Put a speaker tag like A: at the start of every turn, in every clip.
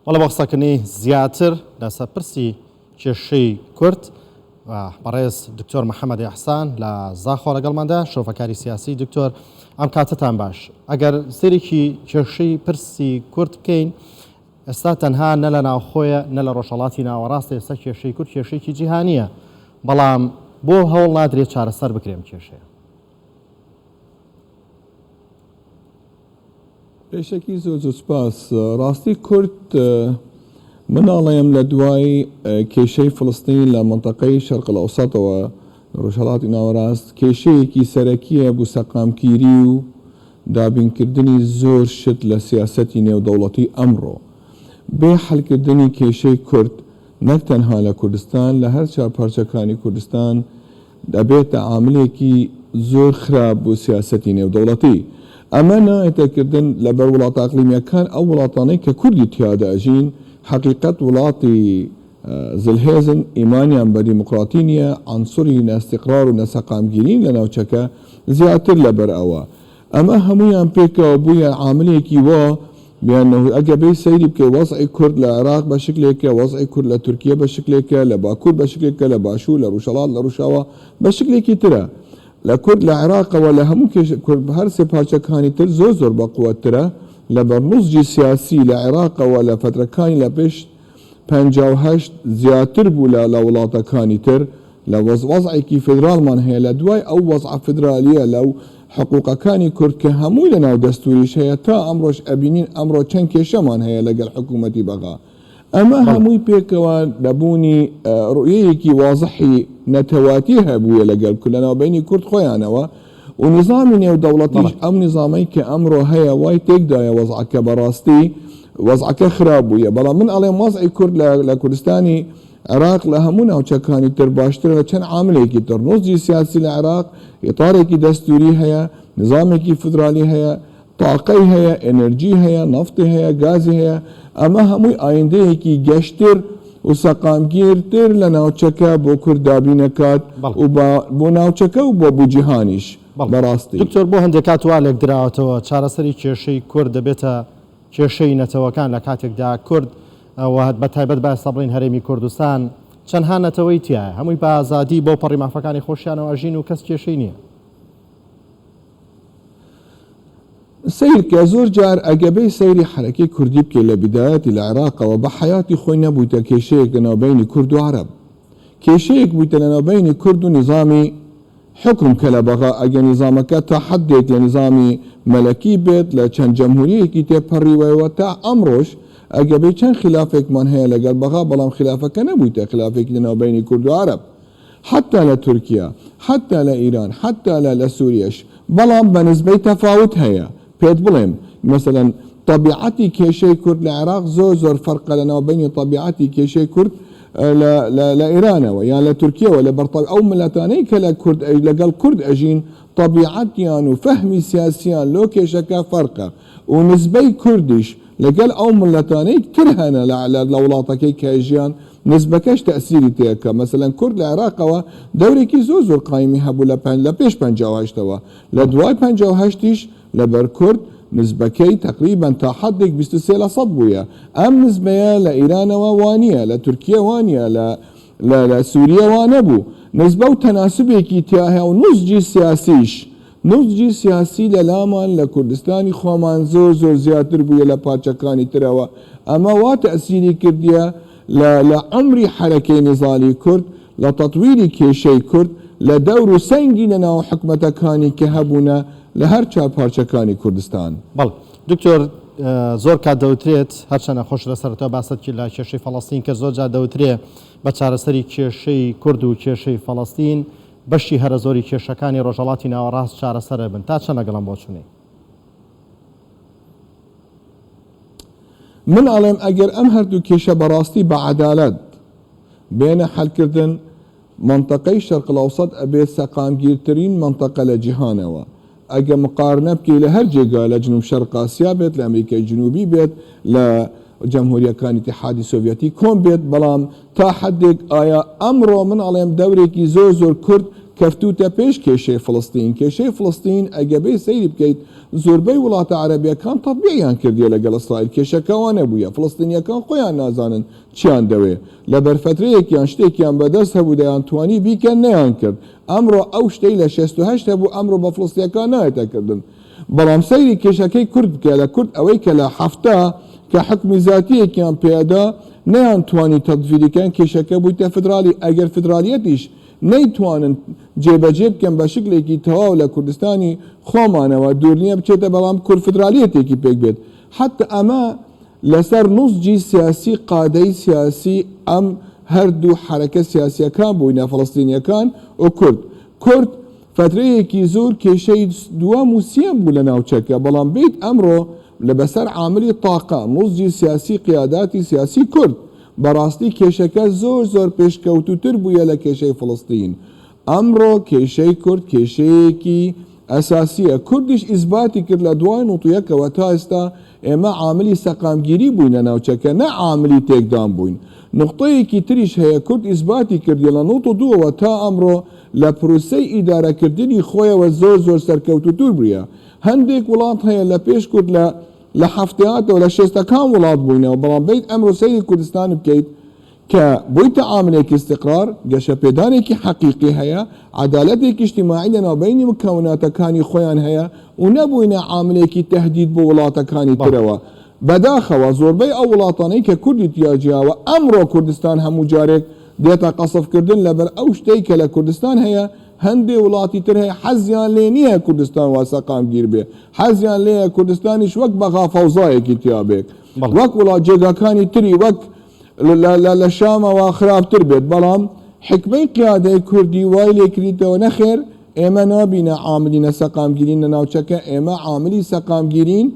A: بەڵێ بۆ قسەکردنی زیاتر لەسەر پرسی کێشەی کورد بەڕێز دکتۆر محەممەد ئەحسان لە زاخۆ لەگەڵماندا شۆفەکاری سیاسی دکتۆر ئەم کاتتان باش ئەگەر سێرێکی کێشەی پرسی کورد بکەین ئێستا تەنها نە لە ناوخۆیە نە لە ڕۆژهڵاتی ناوەڕاستە ئێستا کێشەی کورد کێشێکی جیهانیە بەڵام بۆ هەوڵ نادرێت چارەسەر بکرێن کێشەیە
B: پێشەکی زۆر زۆر سپاس ڕاستی کورد مناڵەیەم لە دوای کێشەی فلستین لە منتەقەی شەرقل ئەوساتەوە ڕژهڵاتی ناوەڕاست کێشەیەکی سەرەکیە بوو سەقامکیری و دابینکردنی زۆر شت لە سیاسەتی نێودەوڵەتی ئەمڕۆ بێ حلکردنی کێشەی کورد نەک تەنها لە کوردستان لە هەرچا پارچەکانی کوردستان دەبێتە عاملێکی زۆر خراپ بۆ سیاسەتی نێودەوڵەتی. ئەمە نایەتە کردن لەبەر وڵاتە ئەقلیمییەکان، ئەو وڵاتانەی کە کوردی تیادا ئەژین، حەقیقەت وڵاتی زلهێزن، ئیمانیان بە دیموکراتی نییە، عەنسوری نەئیستیقرار و نەسەقامگیریین لە ناوچەکە، زیاتر لەبەر ئەوە، ئەمە هەموویان پێکەوە بوویە عاملێکی وا بیان نەهوی ئەگە بێی سەیری بکەی وەزعی کورد لە عێراق بە شکلێکە وەزعی کورد لە تورکیە بە شکلێکە لە باکوور بە شکلێکە لە باشوور لە ڕوژهەڵات لە ڕوشاوا بە شکلێکی ترە لە کورد لە عێراقەوە لە هەموو کێش کورد هەر سێ پارچەکانی تر زۆر زۆر بە قوەترە لە بەرنوسجی سیاسی لە عێراقەوە لە فترەکانی لە پێش پەنجا و هەشت زیاتر بوو لە لە وڵاتەکانی تر لە وەز وەزعێکی فیدرالمان هەیە لە دوای ئەو وەزعە فیدرالیە لە و حقوقەکانی کورد کە هەمووی لە ناو دەستوریش هەیە تا ئەمڕۆش ئەبینین ئەمڕۆ چەند کێشەمان هەیە لەگەل حکومەتی بەغا ئەمە بەڵێ هەمووی پێکەوە نەبوونی ڕوئیەیەکی وازحی نەتەواتی هەبوویە لەگەل کورد لە ناوبەینی کورد خۆیانەوە و نیزامی نێودەوڵەتیش ئەم نیزامەی کە ئەمرۆ هەیە وای تێکدایە وەزعەکە بەڕاستی وەزعەکە خراپ بوویە بەڵام من ئەڵێم وەزعی کورد لە لە کوردستانی عێراق لە هەموو ناوچەکانی تر باشترە لە چەند عاملێکی تر نوزجی سیاسی لە عێراق ئیطارێکی دەستووری هەیە نیزامێکی فدرالی هەیە تاقەی هەیە، ئێنێرجی هەیە، نەفتی هەیە، گازی هەیە، ئەمە هەمووی ئایندەیەکی گەشتر و سەقامگیرتر لە ناوچەکە بۆ کورد دابین دەکات و بە بۆ ناوچەکە و بە بۆ جیهانیش بە ڕاستی. دکتۆر بۆ هەندێک کات
A: وا لێکدراوەتەوە چارەسەری کێشەی کورد دەبێتە کێشەی نەتەوەکان لە کاتێکدا کورد و بە تایبەت با ئێستا بڵێین هەرێمی کوردستان چەندها نەتەوەی تیایە هەمووی بە ئازادی بەوپەڕی مافەکانی خۆشیانەوە ئەژین و کەس کێشەی نییە.
B: سەیرکە زۆر جار ئەگەبەی سەیری حەرەکەی کوردی بکەی لە بدایەتی لە عێراقەوە بە حەیاتی خۆی نەبویتە کێشەیەک لە ناو بەینی کورد و عەرەب کێشەیەک بویتە لە ناو بەینی کورد و نیزامی حوکم کە لە بەغا ئەگە نیزامەکە تا حەدێک لە نیزامی مەلەکی بێت لە چەند جەمهوریەکی تێ پەریوەیەوە تا ئەمڕۆش ئەگەبەی چەند خیلافێکمان هەیە لەگەڵ بەغا بەڵام خیلافەکە نەبویتە خیلافێکی لە ناو بەینی کورد و عەرەب حەتتا لە تورکیا، حەتتا لە ئیران، حەتتا لە لە سوریەش، بەڵام بە نسبەی تەفاوت هەیە، پێت بڵێم مەسەلەن تەبیعەتی کێشەی کورد لە عێراق زۆر زۆر فەرقە لە ناوبەینی تەبیعەتی کێشەی کورد لە لە لە ئێرانەوە یان لە تورکیەوە لە بەر تەبع ئەو میللەتانەی کە لە کورد ئەژ لە گەڵ کورد ئەژین تەبیعەتیان و فەهمی سیاسیان لۆ کێشەکە فەرقە و نسبەی کوردیش لە گەل ئەو میللەتانەی تر هەنە لە لە لە وڵاتەکەی کە ئەژیان نسبەکەش تەئسیری پێکە مەسەلەن کورد لە عێراقەوە دەورێکی زۆر زۆر قایمی هەبوو لە پەن لە پێش پەنجا و هەشت ەوە لە دوای پەنجا و هەشت یش لە بەر کورد نسبەکەی تەقریبەن تا حەدێک بیست و سێ لە سەد بوویە ئەم نسبەیە لە ئیرانەوە وانیە لە تورکیە وانیە لە لە لە سوریە وانەبوو نسبە و تەناسبێکی تیایە و نوزجی سیاسیش نوزجی سیاسی لە لامان لە کوردستانی خۆمان زۆر زۆر زیاتر بوویە لە پارچەکانی ترەوە، ئەمە وا تەئسیری کردیە لە لە عەمری حەرەکەی نیزالی کورد، لە تەتویری کێشەی کورد، لە دەور و سەنگی لە ناو حکومەتەکانی کە هەبوونە لە هەر چوار پارچەکانی کوردستان. بەڵێ دکتۆر
A: زۆر کات دەوترێت هەرچەند نەخۆش لە سەرەتای باست کرد لە کێشەی فەڵەستین کە زۆر جار دەوترێ بە چارەسەری کێشەی کورد و کێشەی فەڵەستین بەشی هەرە زۆری کێشەکانی ڕۆژهەڵاتی ناوەڕاست چارەسەر ئەبن، تا چەند لەگەڵ ئەم بۆچوونەی؟
B: من ئەڵێم ئەگەر ئەم هەردوو کێشە بەڕاستی بە عەدالەت بێنە حەلکردن، مەنتەقەی شەرقلئەوسەت ئەبێت سەقامگیرترین مەنتەقە لە جیهانەوە، ئەگە مقارنە بکەی لە هەر جێگا لە جنوب شەرق ئاسیا بێت لە ئەمریکای جنوبی بێت لە جەمهوریەکان ئیتیحادی سۆڤیەتی کۆن بێت بەڵام تا حەدێک ئایا ئەمڕۆ من ئەڵێم دەورێکی زۆر زۆر کورت کەفتوتە پێش کێشەی فلستین کێشەی فلستین ئەگە بێ سەیری بکەیت زۆربەی وڵاتە عەرەبیەکان تەبیعیان کردیە لەگەڵ ئیسرائیل کێشەکەوە نەبووە فلستینیەکان خۆیان نازانن چیان دەوێ لە بەرفەترەیەکیان شتێکیان بەدەست هەبوو دەیان توانی بیکەن نەیان کرد ئەمڕۆ ئەو شتەی لە شەست و هەشت هەبوو ئەمڕۆ بە فڵسیەکان نایەتە کردن بەڵام سەیری کێشەکەی کورد بکە لە کورد ئەوەی کە لە حەفتا کە حوکمی زاتیەکیان پێدا نەیان توانی تەتڤیری کەن کێشەکە بویتە فدرالی ئەگەر فدرالیەتیش نەیتوانن جێ بەجێ بکەن بە شکلێکی تەواو لە کوردستانی خۆمانەوە دوور نیە بچێتە بەڵام کورد فدرالیەتێکی پێک بێت حەتا ئەمە لەسەر نوسجی سیاسی قادەی سیاسی ئەم هەر دوو حەرەکە سیاسیەکان بوینە فەلەستینیەکان و کورد کورد فەترەیەکی زور کێشەی دوەم و سیەم بو لە ناوچەکە بەڵام بیت ئەمرۆ لە بەسەر عاملی تاقە نوسجی سیاسی قیاداتی سیاسی کورد بەراستی کێشەکە زور زور پێشکەوتوتر بویە لە کێشەی فەلەستین ئەمڕۆ کێشەی کورد کێشەیەکی ئەساسییە، کوردیش ئیسباتی کرد لە دوای نوتویەکەوە تا ئێستا ئێمە عاملی سەقامگیری بووین لە ناوچەکە نە عاملی تێکدان بووین. نوقتەیەکی تریش هەیە کورد ئیسباتی کردیە لە نوت و دووەوە تا ئەمڕۆ لە پروسەی ئیدارەکردنی خۆیەوە زۆر زۆر سەرکەوتوو تر بویە. هەندێک وڵات هەیە لە پێش کورد لە لە حەفتەیاتەوە لە شێستەکان وڵات بووینەوە بەڵام بێیت ئەمرۆ سەیری کوردستان بکەیت کە بۆی تەعاملێکی ئیستیقرار، گەشەپێدانێکی حەقیقی هەیە، عەدالەتێکی ئیجتیماعی لەناوبەینی مکوناتەکانی خۆیان هەیە و نەبووینە عاملێکی تەهدید بۆ وڵاتەکانی ترەوە. بەداخەوە زۆربەی ئەو وڵاتانەی کە کوردی تیا جیاوە، ئەمڕۆ کوردستان هەموو جارێک دێتە قەسف کردن لەبەر ئەو شتەی کە لە کوردستان هەیە، هەندێ وڵاتی تر هەیە حەزیان لێ نییە کوردستان وا سەقامگیر بێ، حەزیان لێیە کوردستانیش وەک بەغا فەوزایەکی تیا بێ. وەک وڵات جێگاکانی تری وەک لە لە شامەوە خراپتر بێت بەڵام حکمەی قیادەی کوردی وای لێکریتەوە نەخێر ئێمە نابینە عاملینە سەقامگیرین لە ناوچەکە ئێمە عاملی سەقامگیرین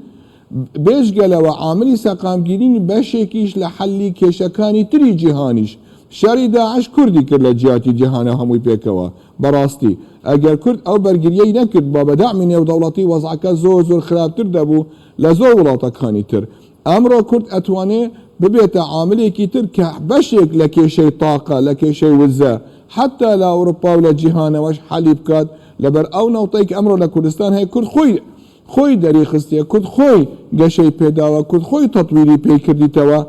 B: بێژگەلەوە عاملی سەقامگیرین بەشێکیش لە حەلی کێشەکانی تری جیهانیش شەری داعش کوردی کرد لە جیاتی جیهانە هەمووی پێکەوە بەڕاستی ئەگەر کورد ئەو بەرگریەی نەکرد بە بەدامی نێودەوڵەتی وەزعەکە زۆر زۆر خراپتر دەبوو لە زۆر وڵاتەکانی تر ئەمڕۆ کورد ئەتوانێ ببێتە عاملێکی تر کە بەشێک لە کێشەی تاقە، لە کێشەی وزە، حەتتا لە ئەوروپا و لە جیهانەوەش حەلی بکات، لەبەر ئەو نەوتەی کە ئەمڕۆ لە کوردستان هەیە، کورد خۆی خۆی دەریخستیە، کورد خۆی گەشەی پێداوە، کورد خۆی تەتویری پێی کردیتەوە،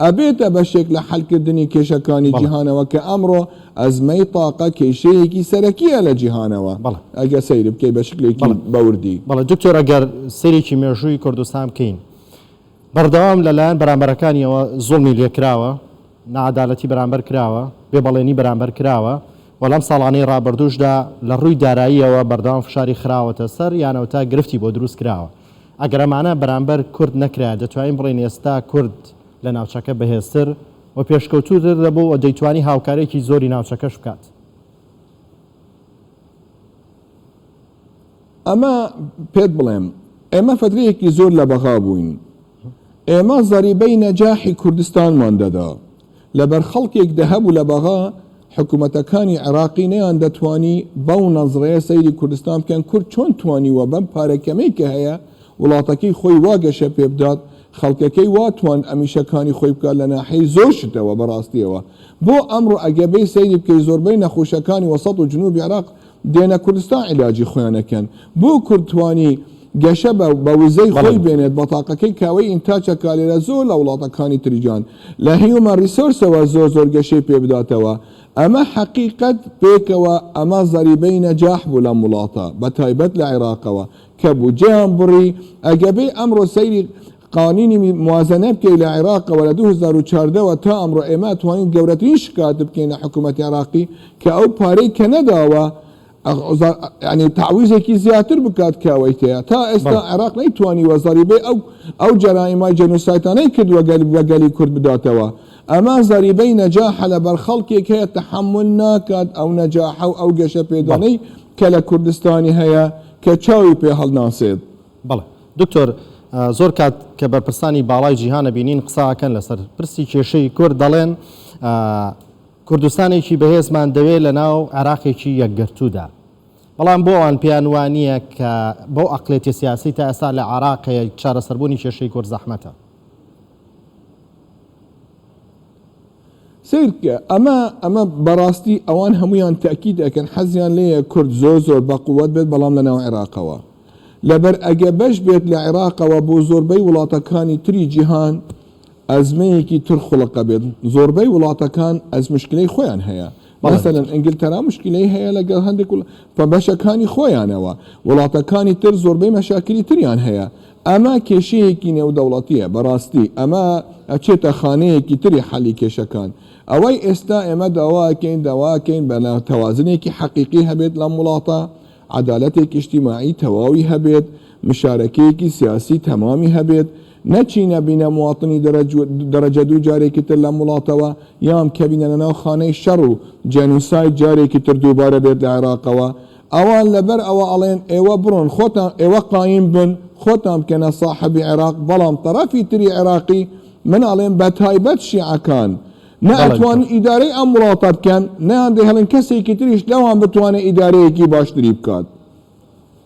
B: ئەبێتە بەشێک لە حەلکردنی کێشەکانی بەڵێ. جیهانەوە کە ئەمڕۆ ئەزمەی تاقە کێشەیەکی سەرەکیە لە جیهانەوە بەڵێ. ئەگەر سەیری بکەی بە شکلێکی بەڵێ. بەوردی. بەڵێ دکتۆر ئەگەر
A: سەیرێکی مێژووی کوردستان بکەین بەردەوام لە لایەن بەرامبەرەکانیەوە زوڵمی لێکراوە، ناعەدالەتی بەرامبەر کراوە، بێ بەڵێنی بەرامبەر کراوە و لەم ساڵانەی رابردووشدا لە رووی داراییەوە بەردەوام فشاری خراوەتە سەر یانەو تا گرفتی بۆ دروست کراوە. ئەگەر ئەمانە بەرامبەر کورد نەکرایە دەتوانین بڵێین ئێستا کورد لە ناوچەکە بەهێزتر و پێشکەوتووتر دەبوو و دەیتوانی هاوکاریەکی زۆری ناوچەکەش بکات.
B: ئەمە پێت بڵێم ئێمە فەترەیەکی زۆر لە بەغا بووین، ئێمە زەریبەی نەجاحی کوردستانمان دەدا، لەبەر خەڵکێک دەهەبوو لە بەغا، حکومەتەکانی عێراقی نەیاندەتوانی بەو نەزرەیە سەیری کوردستان بکەن، کورد چۆن توانیوە بەم پارە کەمەی کە هەیە وڵاتەکەی خۆی وا گەشە پێ بدات، خەڵکەکەی وا تواند ئەمیشەکانی خۆی بکات لە ناحیەی زۆر شتەوە بەڕاستیەوە بۆ ئەمڕۆ ئەگەر بێی سەیری بکەی زۆربەی نەخوشەکانی وەسەت و جنوبی عێراق دێنە کوردستان عیلاجی خۆیان ئەکەن بۆ کورد توانی گەشە بە بە وزەی خۆی بەڵێ. بێنێت بەتاقەکەی کاوەی ئینتاچە کالێرە زۆر لە وڵاتەکانی تری جان لە هیومەن ریسۆرسەوە زۆر زۆر گەشەی پێ بداتەوە ئەمە حەقیقەت پێکەوە ئەمە زەریبەی نەجاح بوو لەم وڵاتە بەتایبەت لە عێراقەوە کە بودجەیان بڕی ئەگەبێ ئەمڕۆ سەیری قانینی موازەنە بکەی لە عێراقەوە لە دوو هەزار و چواردە وە تا ئەمڕۆ ئێمە توانین گەورەترین شکات بکەین لە حکوومەتی عێراقی کە ئەو پارەی کە نەداوە ینی تعویزێکی زیاتر بکات کەوەی تەیە تا ئێستا عێراق نەیتوانی وەزاری بێ ئەو ئەو جەرائیمای جەنوسایتانەی کردووە گەل بە گەلی کورد بداتەوە ئەمە زەریبەی نەجاحە لە بەرخەڵکێک هەیە تحمل ناکات ئەو نەجاحە و ئەو گەشە پێدانەی کە لە کوردستانی هەیە کە چاوی پێ هەڵناسێت. بەڵێ
A: دکتۆر زۆر کات کە بەرپرسانی باڵای جیهان ئەبینین قسە ئەکەن لەسەر پرسی کێشەی کورد دەڵێن کوردستانێکی بەهێزمان دەوێت لە ناو عێراقێکی یەکگرتوودا بەڵام بۆ ئەوان پێیان وانە کە بەو ئەقلێتی سیاسی تا ئێستا لە عراق چارەسەربوونی کێشەی کورد زەحمەتە
B: سەیر بکە ئەمە ئەمە بەڕاستی ئەوان هەموویان تەئکید ئەکەن حەزیان لێیە کورد زۆر زۆر بە قوەت بێت بەڵام لە ناو عێراقەوە لەبەر ئەگە بەش بێت لە عێراقەوە بۆ زۆربەی وڵاتەکانی تری جیهان ئەزمەیەکی تر خوڵقە بێت زۆربەی وڵاتەکان ئەز مشکلەی خۆیان هەیە مەسەن ئەنگلتەرا مشکلەی هەیە لەگەڵ هەندێک پە بەشەکانی خۆیانەوە وڵاتەکانی تر زۆربەی مەشاکری تریان هەیە ئەمە کێشەیەکی نێودەوڵەتییە، بەڕاستی ئەمە ئەچێتە خانەیەکی تری حەلی کێشەکان. ئەوەی ئێستا ئێمە داواکەین، داواکەین بە نا تەوازنێکی حەقیقی هەبێت لەم وڵاتە، عەدالەتێکی ئیجتیماعی تەواوی هەبێت، مشارەکەیەکی سیاسی تەمامی هەبێت، نەچینە بینە مواطنی دەرەجە دوو جارێکی تر لەم وڵاتەوە، یان کەبینە لەناو خانەی شەڕ و جێنوساید جارێکی تر دووبارە بێت لە عێراقەوە، ئەوان لەبەر ئەوە ئەڵێن ئێوە بڕۆن خۆتان ئێوە قایم بن خۆتان بکەنە ساحەبی عێراق بەڵام تەڕەفی تری عێراقی من ئەڵێم بەتایبەت شیعەکان نە بەڵێ ئەتوانن بکە ئیدارەی ئەم وڵاتە بکەن نەیان دەهێڵن کەسێکی تریش لەوان بتوانێ ئیدارەیەکی باشتری بکات.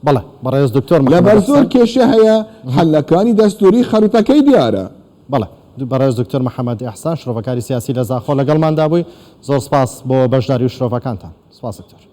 B: بەڵێ
A: بەڕێز دکتۆر محەمەد لەبەر زۆر ئەحسەن. کێشە
B: هەیە مهم. حەلەکانی دەستووری خەریتەکەی دیارە. بەڵێ دو
A: بەڕێز دکتۆر محەمەد ئەحسان شرۆڤەکاری سیاسی لە زاخۆ لەگەڵماندا بووی زۆر سپاس بۆ بەشداری و شرۆڤەکانتان. سپاس دکتۆر.